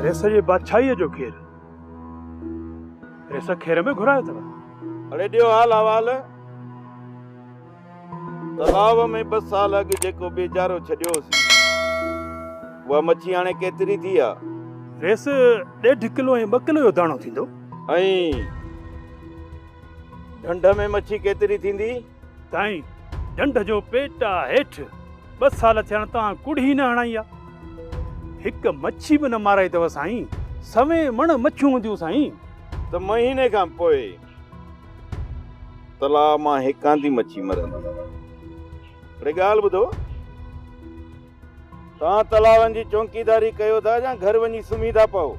ريس جي بادشاهيء جو کير، ريس کير ۾ گهرايو اٿئو. اڙي ڏيو حال احوال، تلاء ۾ ٻه سال اڳ جيڪو ٻيجارو ڇڏيو هوسين، اها مڇي هاڻي ڪيتري ٿي آ؟ ريس ڏيڍ ڪلو ۽ ٻه ڪلو جو داڻو ٿيندو. ۽ ڍنڍ ۾ مڇي ڪيتري ٿيندي؟ تائين ڍنڍ جو پيٽ آ هيٺ ٻه سال ٿيا آهن توهان ڪڙهي نه هڻائي آ هڪ مڇي به نه مارائي اٿو سائين سوين مڻ مڇيون هونديون سائين ته مهيني کان پوء تلاء مان هڪ آندي مڇي مرندي هڪڙي ڳالهه ٻڌو توهان تلاون جي چونڪيداري ڪيو ٿا يا گهر وڃي سمهي ٿا پئو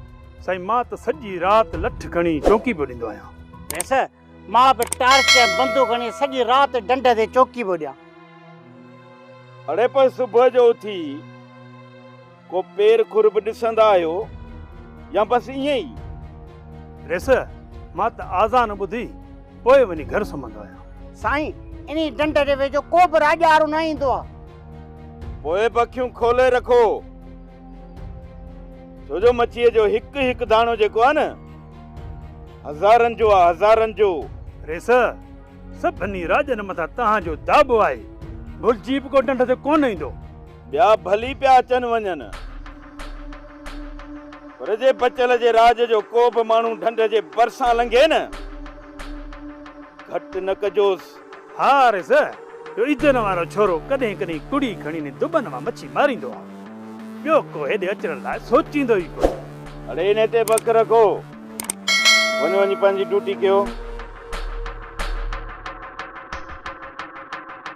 سائين مان ته سڄي رات لٺ کڻي چونڪي پيو ڏيندو آهيان. مان به ٽارچ ۽ بندوق هڻي سڄي رات ڍنڍ تي چوڪي پيو ڏيان. اڙي پر صبح جو اٿي ڪو پير کر به ڏسندا آهيو يا بس ائين ئي؟ ريس، مان ته آذان ٻڌي پوء وڃي گهر سمهندو آهيان. سائين، انهي ڍنڍ جي ويجهو ڪو به راڄارو نه ايندو آهي. پوء به اکيون کولي رکو، ڇو جو مڇيء جو هڪ هڪ داڻو جيڪو آهي نه هزارن جو آهي هزارن جو. ريس سڀني راڄن مٿان تنهن جو داٻو آهي. ڀلجي به ڪو ڍنڍ تي ڪونه ايندو. ٻيا ڀلي پيا اچن وڃن پر جي بچل جي راڄ جو ڪو به ماڻهو ڍنڍ جي ڀرسان لنگهي نه گهٽ نه ڪجوس. ها عارض، اهو ايجن وارو ڇورو ڪڏهن ڪڏهن ڪڙي کڻي ني دٻن مان مڇي ماريندو آهي. ٻيو ڪو هيڏي اچڻ لاء سوچيندو ئي ڪونه. اڙي انهي تي بک رکو. وڃ وڃي پنهنجي ڊوٽي ڪيو.